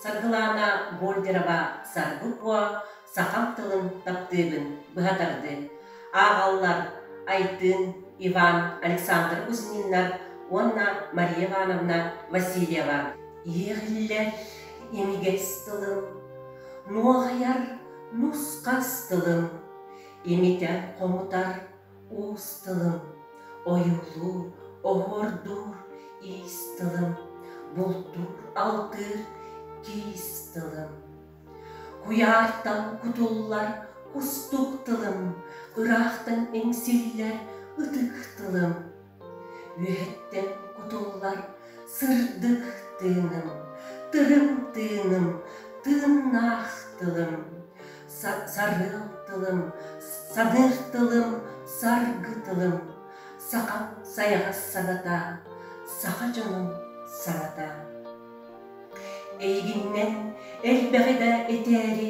Саргылаана Больдерова Саргы Куо сахам тылын таптыыбын быһа тардыы. Ааҕаллар Айтын, Иван, Александр Кузьминнар уонна Мария Ивановна Васильева. Иэҕиллэр имигэс тылым, нуоҕайар Нус-хас тылым имитэр-хомутар уус тылым, ойуулуур, оһуордуур иис тылым, бултуур, алтыыр тиис тылым. Куйаартан кутуллар кустук тылым, ыраахтан иҥсиллэр ытык тылым. Үөһэттэн кутуллар сырдык тыыным, тыгым тыыным, тыыннаах тылым, сарыал тылым, саныыр тылым, саргы тылым, сахам сайаҕас сабата, саха дьонун сабата. Эйигиннэн элбэҕи да этээри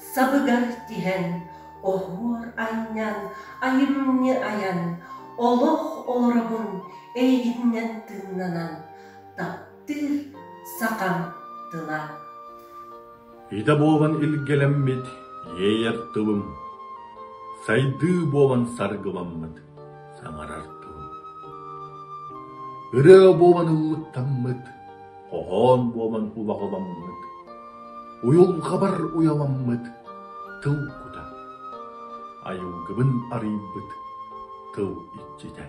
Сабыгар тиһэн, оһуор анньан, айымньы айан, олох олоробун эйигиннэн тыыннанан, таптыыр сахам тыла. Идэ буолан илгэлэммит иэйэр тылым, сайдыы буолан саргыламмыт саҥарар тылым. Ырыа буолан ыллыктаммыт Хоһоон буолан убаҕаламмыт, уйулҕабар уйаламмыт тыл кута, айылгыбын арыйбыт тыл иччитэ.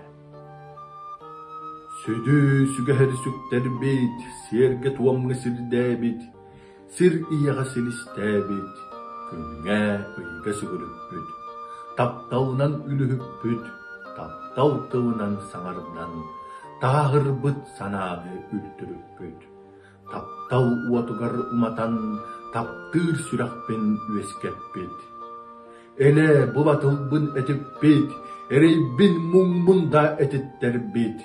Сүдү сүгэһэри сүктэрбит, сиэргэ-туомҥа сирдээбит, Сир ийэҕэ силистээбит, күҥҥэ, ыйга сүгүрүппүт, тапталынан үлүһүппүт, таптал тылынан саҥардан, таһаһырбыт санааҕы үлтүрүппүт, таптал уотугар уматан таптыыр сүрэхпин үөскэппит. Элэ бу батылбын этиппит, эрэйбин муҥмун да этиттэрбит,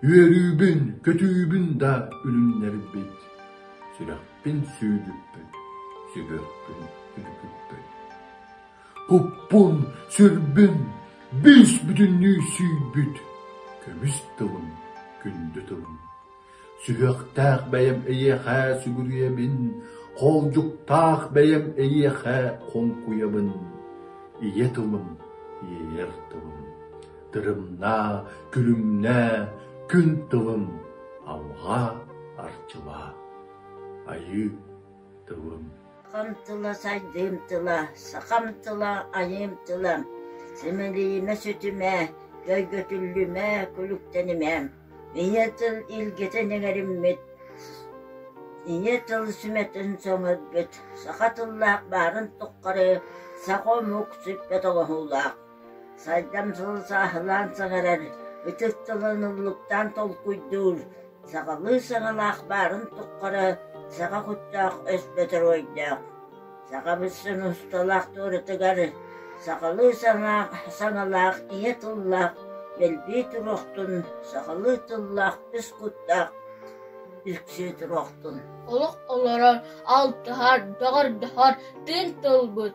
үөрүүбүн, көтүүбүн да үлүннэрбит. Сүрэхпин сүүрбүппүн, сүбэхпин үлүпүппүн. Куппун, сүрбүн, бүүс бүтүннүү сүүрбүт. Көмүс тылым, күндү тылым. Сүһүөхтээх бэйэм эйиэхэ сүгүрүйэбин, холдьуктаах бэйэм эйиэхэ хоҥкуйабын. Ийэ тылым, иэйэр тылым. Тырымнаа, күлүмнээ, күн тылын алҕаа, арчылаа. Айыы тылын. Сахам тыла сайдыым тыла, сахам тыла айыым тыла, симэлийимэ сүтүмэ, көйгөтүллүмэ, күлүктэнимэ. Ийэ тыл илгитин эҥэриммит, ийэ тыл сүмэтин соҥорбут, саха тыллаах баарын туххары саха омук сүппэт оҥоһуулаах. Сайдам сылы сааһылаан саҥарар, ытыс тылын умлуктаан толкуйдуур, сахалыы саҥалаах баарын туххара саха куттаах өспөтөр ойдоох, саха быссын усталаах туоратыгар сахалыы саҥаах, саҥалаах ийэ тыллаах дэлбии туруохтун, сахалыы тыллаах ис куттаах үксүү туруохтун! Олох олорор, алтыһар, бөҕөрдөһөр тыын тылбыт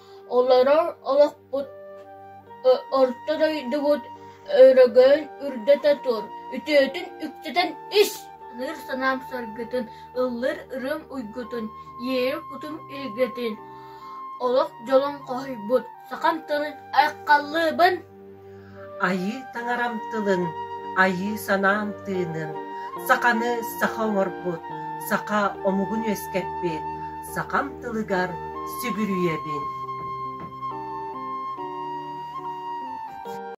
Олорор олохпут, орто дойдубут өрөгөйүн үрдэтэ тур, үтүөтүн үктэтэн ис! ылыр санаам саргытын, ыллыр ырыам уйгутун, иэйэр кутум эйгэтин, олох дьолун хоһуйбут, сахам тылын айхаллыыбын! Айыы таҥарам тылын, айыы санаам тыынын, саханы саха оҥорбут, саха омугун үөскэппит, сахам тылыгар сүгүрүйэбин!